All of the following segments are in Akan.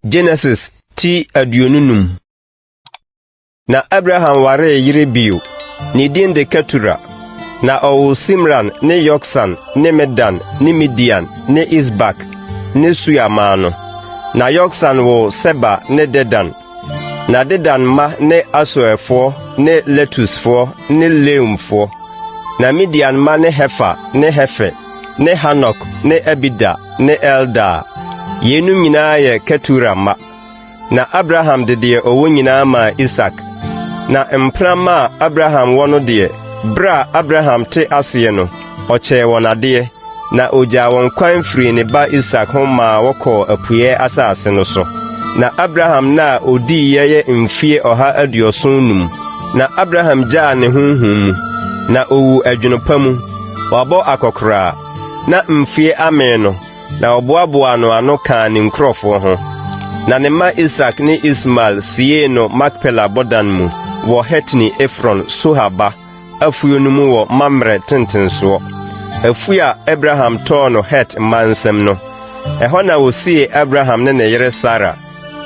Genesis ti aduonu num. Na Abraham waree yere bio, ne din de Ketura. Na ɔwoo Simran ne Yoksan ne Medan ne Midian ne Isbak ne Sua maa no. Na Yoksan woo Seba ne Dedan. Na Dedan mma ne Asoerfoɔ ne Letusfoɔ ne Leumfoɔ. Na Midian mma ne Hefer ne Hefer ne Hanok ne Abida ne Eldaa. Yeinom nyinaa yɛ Ketura mma. Na Abraham de deɛ ɔwɔ nyinaa maa Isak. Na mpena mma a Abraham wɔ no deɛ, berɛ a Abraham te aseɛ no, Ɔkyɛɛ wɔn adeɛ, na ɔgyaa wɔn kwan firii ne ba Isak ho maa wɔkɔɔ apueɛ asase no so. Na Abraham nna a ɔdiiɛ yɛ mfie ɔha aduɔson num. Na Abraham gyaa ne honhom mu, na ɔwu adwene pa mu, wabɔ akɔkoraa, na mfie amee no, na wɔboaboaa no ano kaa ne nkurɔfoɔ ho. Na ne mma Isak ne Ismael siee no Makpela bɔdan mu wɔ Hetini Efron, Sohar ba. afuo no mu wɔ Mamrɛ tentensoɔ, afuo a Abraham tɔɔ no Het mma nsam no. Ɛhɔ na wɔsiee Abraham ne ne yere Sara.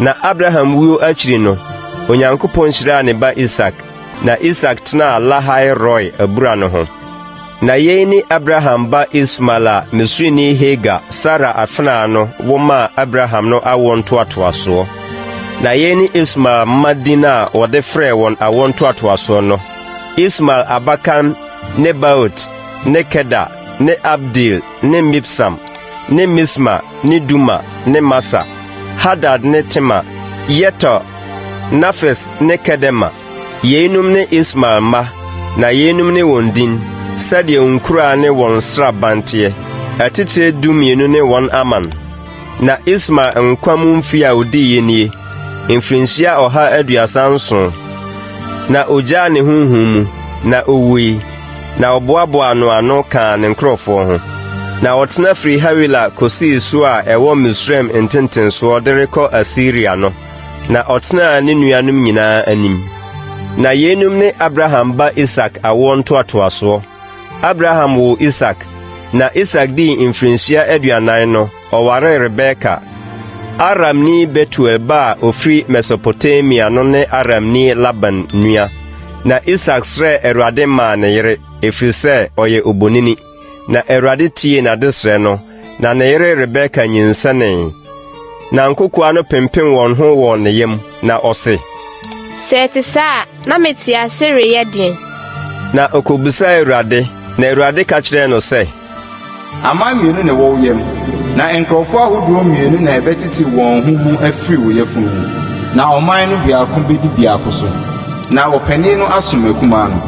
Na Abraham wuo akyiri no, Onyankopɔn hyiraa ne ba Isak, na Isak tenaa Lahai Roi abura no ho. Na yei ne Abraham ba Ismael a Misrini Hagar, Sara afenaa no, wo maa Abraham no awoɔ ntoatoasoɔ. Na yei ne Ismael mma din a wɔde frɛɛ wɔn awoɔ ntoatoasoɔ no, Ismael abakan ne Baot ne Keda ne Abdeel ne Mibsam ne Misma ne Duma ne Masa, Hadad ne Tema, Yeter, Nafis ne Kedema. Yeinom ne Ismael mma, na yeinom ne wɔn din, sɛdeɛ wɔn nkuraa ne wɔn nsraban teɛ, atitire dumienu ne wɔn aman. Na Ismael nkwa mu mfe a odiiɛ nie, mfirinhyia ɔha aduasa nson. Na ogyaa ne honhom mu, na owui, na wɔboaboaa no ano kaa ne nkurɔfoɔ ho. Na ɔtena firi Hawila kɔsii so a ɛwɔ Misraim ntentensoɔ de rekɔ Asiria no, na ɔtenaa ne nuanom nyinaa anim. Na yeinom ne Abraham ba Isak awoɔ ntoatoasoɔ. Abraham woo Isak, na Isak dii mfirinhyia aduanan no, ɔwaree Rebeka. Aramni Betuel ba a ofiri Mesopotamia no ne Aramni Laban nua. Na Isak srɛɛ Awurade maa ne yere, ɛfiri sɛ ɔyɛ obonini. Na Awurade tiee n'adesrɛ no, na ne yere Rebeka nyinsɛnee. Na nkokoaa no pempen wɔn ho wɔ ne yam, na ɔse, Sɛ ɛte saa a, na mete ase reyɛ deɛn? Na ɔkɔbisaa Awurade, na Awurade ka kyerɛɛ no sɛ. Aman mmienu na ɛwɔ wo yam, na nkurɔfoɔ ahodoɔ mmienu na ɛbɛtete wɔn ho mu afiri wo yafunu mu, na ɔman no biako bɛdi biako so, na ɔpanin no asom akumaa no.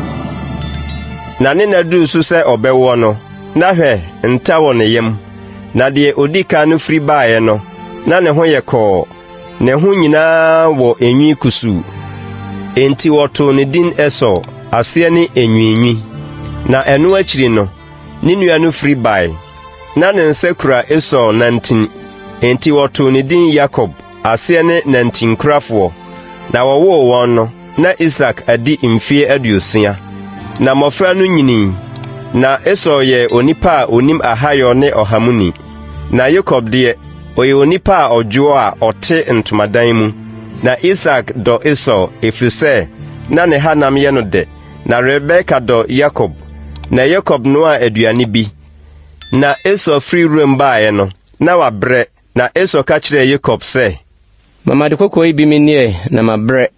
Na ne nna duruu so sɛ ɔbɛwoɔ no, Na hwɛ, nta wɔ ne yam, na deɛ ɔdi kan no firi baeɛ no, na ne ho yɛ kɔɔ, ne ho nyinaa wɔ enwi kusuu. Enti wɔtoo ne din Esau, aseɛ ne Enwiinwi. Na ɛno akyiri no, ne nua no firi bae. Na ne nsa kura Esau nantin, enti wɔtoo ne din Yakob. Aseɛ ne nantinkurafoɔ. Na wɔwoo wɔn no, na Isak adi mfeɛ aduosia. Na mmɔfra no nyinii, na Esau yɛɛ onipa a ɔnim ahayɔ ne ɔha mu ni. Na Yakob deɛ, ɔyɛ onipa a ɔdwoɔ a ɔte ntomadan mu. Na Isak dɔ Esau, ɛfiri sɛ na ne hanam yɛ no dɛ. Na Rebeka dɔ Yakob. Na Yakob noaa aduane bi. Na Esau firi wuram baeɛ no, na wabrɛ. Na Esau ka kyerɛɛ Yakob sɛ. Ma m'ade kɔkɔɔ yi bi me nneɛ na mabrɛ.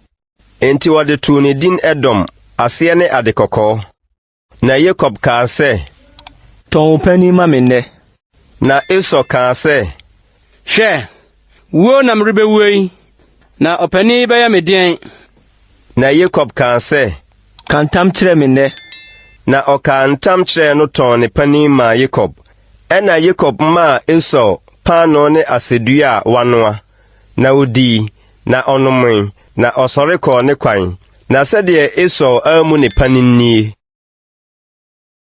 Enti wɔde too ne din Edom, aseɛ ne Ade Kɔkɔɔ. Na Yakob kaa sɛ. Tɔn wo panin ma me nnɛ. Na Esau kaa sɛ. Hwɛ, wuo na merebɛwuo yi, na ɔpanin yi bɛyɛ me deɛn? Na Yakob kaa sɛ. Ka ntam kyerɛ me nnɛ. Na ɔkaa ntam kyerɛɛ no tɔn ne panin maa Yakob. Ɛnna Yakob maa Esau paanoo ne asɛdua a wanoa, na ɔdii, na ɔnomee, na ɔsɔre kɔɔ ne kwan. Na sɛdeɛ Esau ammu ne panin nie.